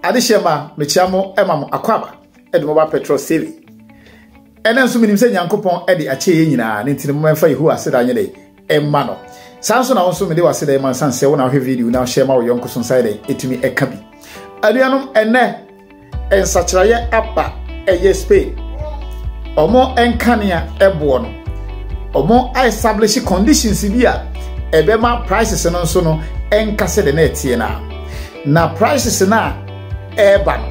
Adehyɛ ma mekyia mo ma mo akwaaba de mo ba petrol save ɛna nso menim sɛ nyankopɔn de akyɛ yɛ nyinaa ne ntini momɛmfa yehowa aseda nyɛ dɛ ɛma no saa nso na wo nso mede w'aseda ɛma nsan sɛ wo na wohwɛ video na wohyɛ ma wo yɔnko so nsa yɛ dɛ ɛtumi ɛka bi anuanom ɛnɛ Nsakyeraeɛ aba ɛyɛ Spain. Ɔmo nkanea ɛboɔ no, ɔmo establish conditions bi a ɛbɛma prices no nso no ɛnka sɛ de na ɛteɛ no a. Na prices no a ɛreba no,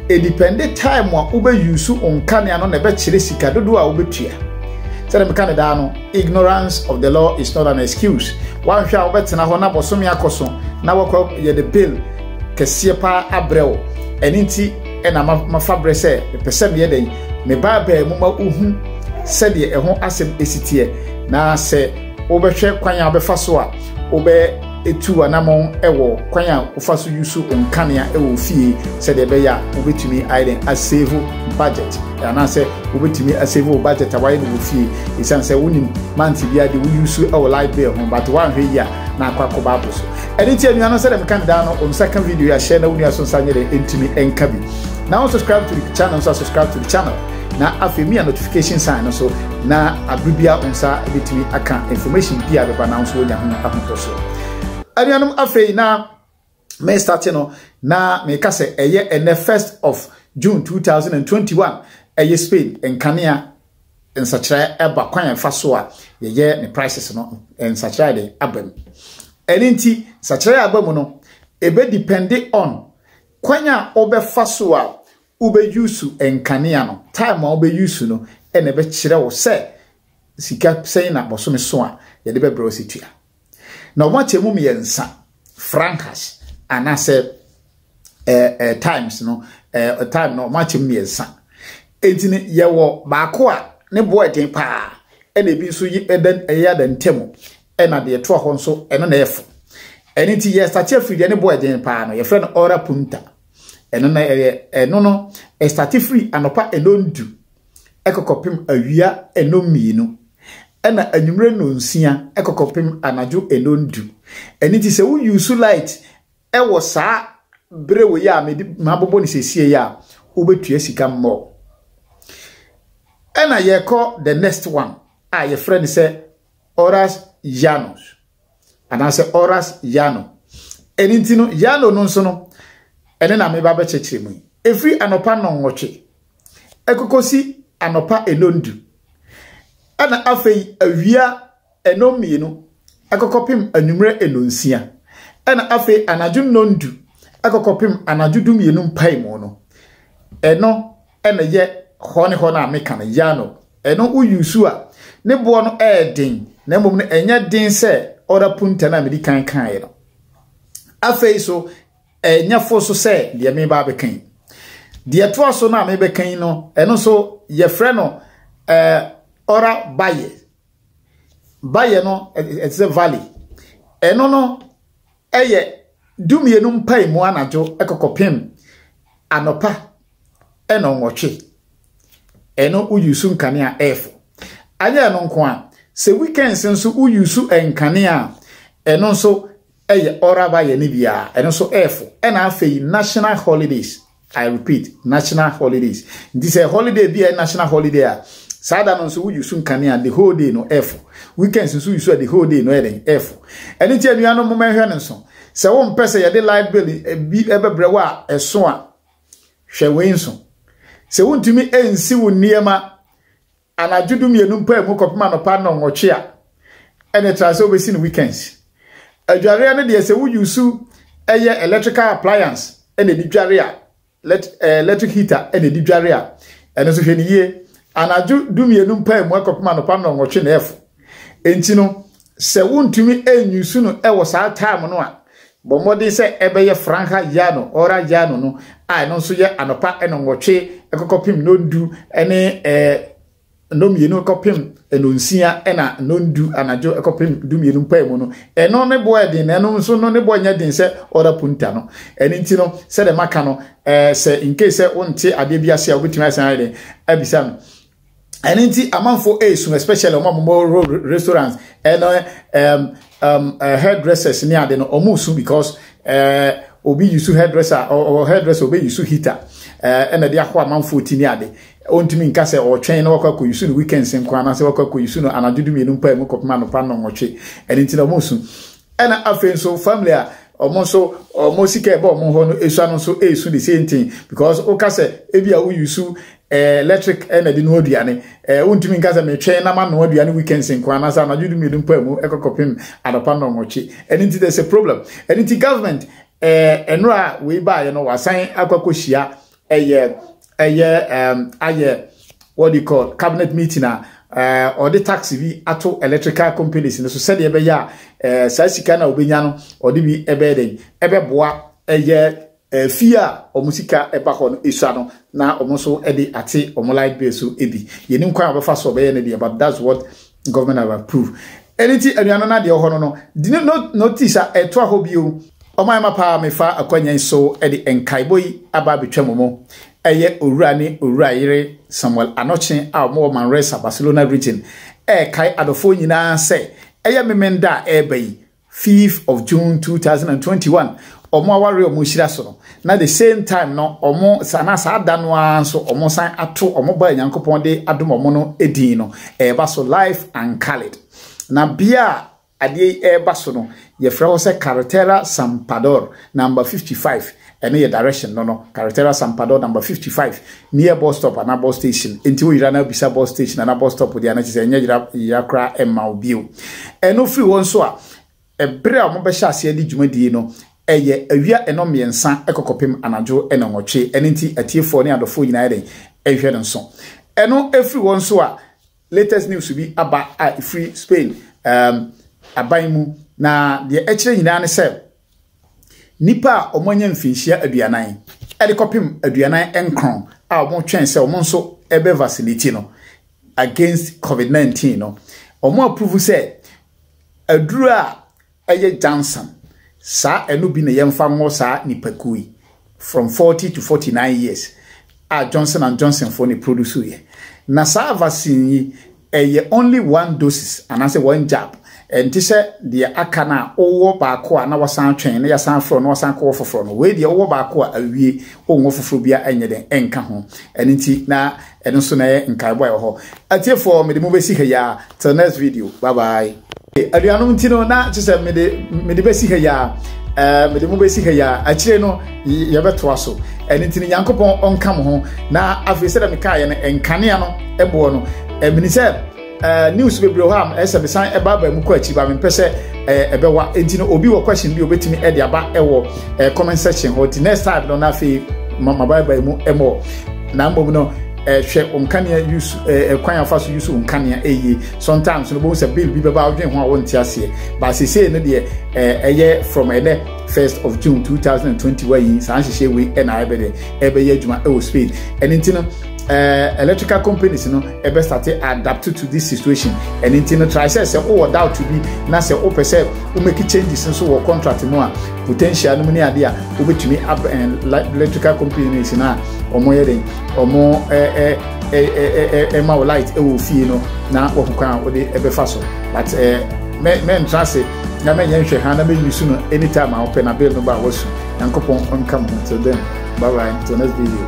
ɛdipɛnde time a wobɛyusu nkanea no na ɛbɛkyerɛ sika dodoɔ a wobɛtua. Sɛdeɛ meka ne daa no, ignorance of the law is not an excuse. Wanhwɛ a wobɛtena hɔ na bɔsome akɔ so na wakɔ yɛde bill kɛseɛ paa abrɛ wo ɛno nti ɛna mafa berɛ sɛ mepɛ sɛ meyɛ dɛn meba abaa mu ma wohu sɛdeɛ ɛho asɛm ɛsi teɛ na sɛ wobɛhwɛ kwan a wobɛfa so a wobɛtu anamɔn ɛwɔ kwan a wofa so yi so nkanea ɛwɔ fie sɛdeɛ ɛbɛyɛ a wobɛtumi ayɛ dɛn asave budget anaasɛ wobɛtumi asave wo budget a wayɛ no wɔ fie ɛsiane sɛ wonim mante bi ade woyi so ɛwɔ light bill ho but woanhwɛ yi a na akɔ akɔba apo so ɛne nti anuanom sɛ dɛm kan daa no wɔn nsa ka video a share na wo nua so nsa nyɛ dɛ ɛntumi ɛnka bi na wɔn subscribe to the channel nso subscribe to the channel na afei mi a notification sign no so na abiri bi a wɔn nsa betumi aka information bi a bɛba na nso wɔnya ho ahotoso anuanom afei na me starte no na meka sɛ ɛyɛ ɛnɛ first of June 2021 ɛyɛ Spain nkanea nsakyerɛ ɛba kwan a ɛfa so a yɛyɛ ne prices no nsakyerɛ a yɛde aba mu ɛne nti nsakyerɛ a aba mu no ebe depende on kwan a wobɛfa so a wobɛyusu nkanea no time a wobɛyusu no ɛna ɛbɛkyerɛ wo sɛ sika sɛn na bɔsome so a yɛde bɛbrɛ wo sɛ tua na wɔn akyɛ mu mmiɛnsa francas anaasɛ ɛɛ ɛɛ times no ɛɛ time no wɔn akyɛ mu mmiɛnsa eti no yɛwɔ baako a ne boɔ ɛden paa ɛna ebi nso yɛ ɛda ɛyɛ ada ntɛm ɛna deɛ ɛtoa hɔ nso ɛno na ɛfo ɛne ti yɛ sate afiri deɛ ne boɔ ɛden paa no yɛfrɛ no ɔra punta ɛno na ɛyɛ ɛno no ɛsate firi anɔpa ɛnondu kɔ kɔpem awia nnɔn mmienu, ɛna anwumerɛ nnɔn nsia kɔ kɔpem anadwo nnɔn du. Ɛno nti sɛ wo use light wɔ saa berɛ wei a mede mabobɔ no sesie a, wobɛtua sika more. Ɛna yɛkɔ the next one a yɛfrɛ no sɛ horas llanos anaasɛ horas llano. Ɛno nti no llano no nso no, ɛne na meba bɛkyerɛkyerɛ mu yi. Ɛfiri anɔpa nnɔnwɔtwe ɛkɔkɔsi anɔpa nnɔndu, ɛna afei awia nnɔn mmienu ɛkɔkɔpem anwummerɛ nnɔnsia, ɛna afei anadwo nnɔndu ɛkɔkɔpem anadwo dumienu mpaemu no, ɛno ɛna yɛ hɔ ne hɔ no a meka no yano, ɛno woyu so a ne boɔ no ɛyɛ den na mmom no ɛnyɛ den sɛ ɔda punta no a medi kan kaeɛ no. Afei so Ɛnyɛ fo nso sɛ deɛ mereba abɛka yi. Deɛ ɛtoa so no a merebɛka yi no, ɛno nso yɛfrɛ no eh, ɔra bayɛ. Bayɛ no ɛte sɛ valley. Ɛno no ɛyɛ dumienu mpae mu anadwo ɛkɔkɔpem anɔpa ɛna ɔnwɔtwe. Ɛno woyusu nkanea ɛɛfo. Anyɛ ɛno nko a, sɛ weekends nso woyusu nkanea a, ɛno nso Ɛyɛ ɔraba yɛ ne bia ɛno nso ɛɛfo ɛna afei national holidays I repeat national holidays nti sɛ holiday bi a national holiday a saa da no nso woyi so nkanea the whole day no ɛɛfo weekends nso yi so the whole day no ɛyɛ den ɛɛfo ɛno nti anuanom mo mɛhwɛ no nso sɛ wo mpɛ sɛ yɛde light bill eh, bi ɛbɛbrɛ eh, wo a ɛso a hwɛ wei nso sɛ wontumi ɛnsi wo nneɛma Anadwo dumienu mpae mu kɔpem anɔpa nnɔnwɔtwe a ɛne tra sɛ wobɛsi no weekends. Adwareɛ no deɛ sɛ wo use ɛyɛ electrical appliance ɛna ɛdi dware a, let, eh, electric heater ɛna ɛdi dware a, ɛno nso hwɛ no yie. Anadwo dumienu mpae mu kɔpem anɔpa nnɔnwɔtwe na ɛfo. Enti no, Sɛ wontumi nuse no wɔ saa time no a, bɔ mmɔden sɛ ɛbɛyɛ franja ya no, hora ya no no, a ɛno nso yɛ anɔpa nnɔnwɔtwe kɔkɔpem nnɔndu ne nnɔmmienu kɔpem nnɔnsia na nnɔndu anadwo kɔpem dumienu mpae mu no. Ɛno ne boɔ ɛden, na ɛno nso no ne boɔ nyɛ den sɛ hora punta no. Ɛno nti no, sɛdeɛ maka no, sɛ nkei sɛ wonte adeɛ bi ase a wobɛtumi asan ayɛ den abisa no. ɛno nti amanfoɔ ɛresu especially wɔn a wɔwɔ restaurants ɛna ɛɛm ɛɛm hairdressers ne ade no wɔresu because ɛɛ eh, obi yusu hairdresser ɔwɔ hairdresser obi yusu heater ɛɛ ɛna de akɔ amanfoɔ ti ne ade ɔntumi nka sɛ ɔtwɛn na wakɔ akɔ yusu no weekends nko anaasɛ wakɔ akɔ yusu no anadwo du mmienu mpaa mu kɔpem anɔpa nnɔnwɔtwe ɛno nti na wɔresu ɛna afei nso family a. wɔn nso wɔn sika ɛbɔ wɔn hɔ no esua no nso esu the same thing because woka sɛ ebi a woyi su ɛɛ electric ɛna de noa aduane ɛɛ wontumi nka sɛ metwɛn na ma noa aduane weekends nko anaasɛ anadwo du mmienu mpo mu ɛkɔkɔpem adɔpa na ɔmɔkye ɛne nti there's a problem ɛne nti government ɛɛ nnora a wei baayɛ no wasan akɔkɔhyia ɛyɛ ɛyɛ ɛɛm ayɛ what do you call cabinet meeting a ɛɛ ɔde tax bi ato electrical companies no so sɛdeɛ ɛbɛyɛ a ɛɛ saa sika no a ɔbɛnya no ɔde bi ɛbɛyɛ dɛ ɛbɛboa ɛyɛ ɛɛ fie a wɔn sika ɛba hɔ no esua no na wɔn nso ɛde ate wɔn light bill so ebi yɛnim kwan a wɔbɛfa so ɔbɛyɛ no deɛ but that's what government have approved ɛne ti anuanom no adeɛ wɔ hɔ no no di no notice a ɛtoa hɔ bio ɔmo ayɛ ma paa mefa akwanya yi so ɛde nkaebɔ yi aba abɛtwa mu mu ɛyɛ owura ne owura yere samuel anɔkye a ɔmo wɔ manresa barcelona region ɛɛkae adɔfoɔ nyinaa sɛ ɛyɛ memenda a ɛɛba yi fifth of June two thousand and twenty one wɔn aware wɔn nhyira so no na the same time no wɔn saa na saa da no ara nso wɔn san ato wɔn ba nyankopɔn de adom wɔn no edin no ɛreba so life and colored na bia adeɛ yi ɛreba so no yɛfrɛ hɔ sɛ carretera sampador number fifty five Ɛno yɛ direction no no, Carretera San Pador number 55, near bus stop anaa bus station, enti wo yera na bisa bus station anaa bus stop deɛ a na kyerɛ sɛ ɛnyɛ yera yera koraa mma wo bio. Ɛno firi hɔ nso a, ɛberɛ a wɔbɛhyɛ aseɛ de dwumadie no, ɛyɛ awia nnɔn mmiɛnsa kɔ kɔpem anadwo nnɔn nwɔtwe, ɛno nti atiefoɔ ne adɔfoɔ nyinaa yɛ dɛn? Ɛhwɛ no nso. Ɛno firi hɔ nso a, latest news bi aba a ɛfiri Spain ɛɛm aban mu, na deɛ ɛkyerɛ nyinaa ne sɛ, Nnipa a wɔanya mfinhyia aduanan de kɔpem aduanan nkron a wɔretwɛn sɛ wɔn nso bɛ vaccinate no against covid 19 no, wɔn approve sɛ aduru a ɛyɛ Janssen, saa ɛno bi na yɛmfa nwɔ saa nnipakuo yi. from forty to forty nine years a Johnson and Johnson foɔ na ɛproduce yɛ. Na saa vaccine yi, ɛyɛ only one doses anaasɛ one jab. Ɛnte sɛ deɛ aka no a wowɔ baako a na wasan atwɛn na yɛasan afrɛ wo na wasan akɔwɔ foforɔ no. Wei deɛ wowɔ baako a awie, wonwɔ foforɔ biara ɛnyɛ dɛn ɛnka ho. Ɛno nti na Ɛno nso na ɛyɛ nkaebɔ a ɛwɔ hɔ. Atiefoɔ, mede mo bɛsi ha yi ara. Till next video. Bye bye. Aduanom nti no na kyerɛ sɛ mede mede bɛsi ha yi ara. Ɛɛ mede mo bɛsi ha yi ara. Akyire no yɛbɛtoa so. Ɛno nti no Nyankopɔn ɔnka mo ho. Na afei sɛdeɛ mekaeɛ no nkanea no boɔ no, ɛmini sɛ. Uh, news bebree hɔ a ɛsɛ mesan ɛba aba mu kɔ akyi ba mempɛ sɛ eh, ɛbɛwa nti no obi wɔ question bi obetumi ɛde eh, aba ɛwɔ eh, comment section hɔ nti next time no na afei mama ba aba mu ɛmɔ na mbom no ɛhwɛ nkanea yusu ɛkwan afa so yusu nkanea ɛyie sometimes no bohu sɛ bill bi bɛba adwene ho a wɔnte aseɛ baasese no deɛ ɛyɛ from ɛnɛ first of june two thousand and twenty one yi saa nhyehyɛ wei ɛna ɛbɛdɛ ɛbɛyɛ adwuma ɛwɔ spain ɛne ti no. uh, electrical companies no ɛbɛ start adapt to this situation ɛne nti no try sɛ sɛ wowɔ doubt bi na sɛ wopɛ sɛ womaki changes nso wɔ contract mu a potential no mu ne adeɛ a wobɛtumi ab electrical companies no a wɔyɛ den wɔn ɛma wo light ɛwɔ fie no na wɔn kwan a wode ɛbɛfa so but ɛɛ mɛntra ase na mɛnyɛ nhwɛ ha na mɛyi su no anytime a wopɛ na bill no ba a wɔsu nyankopɔn nka mu till then bye bye till next video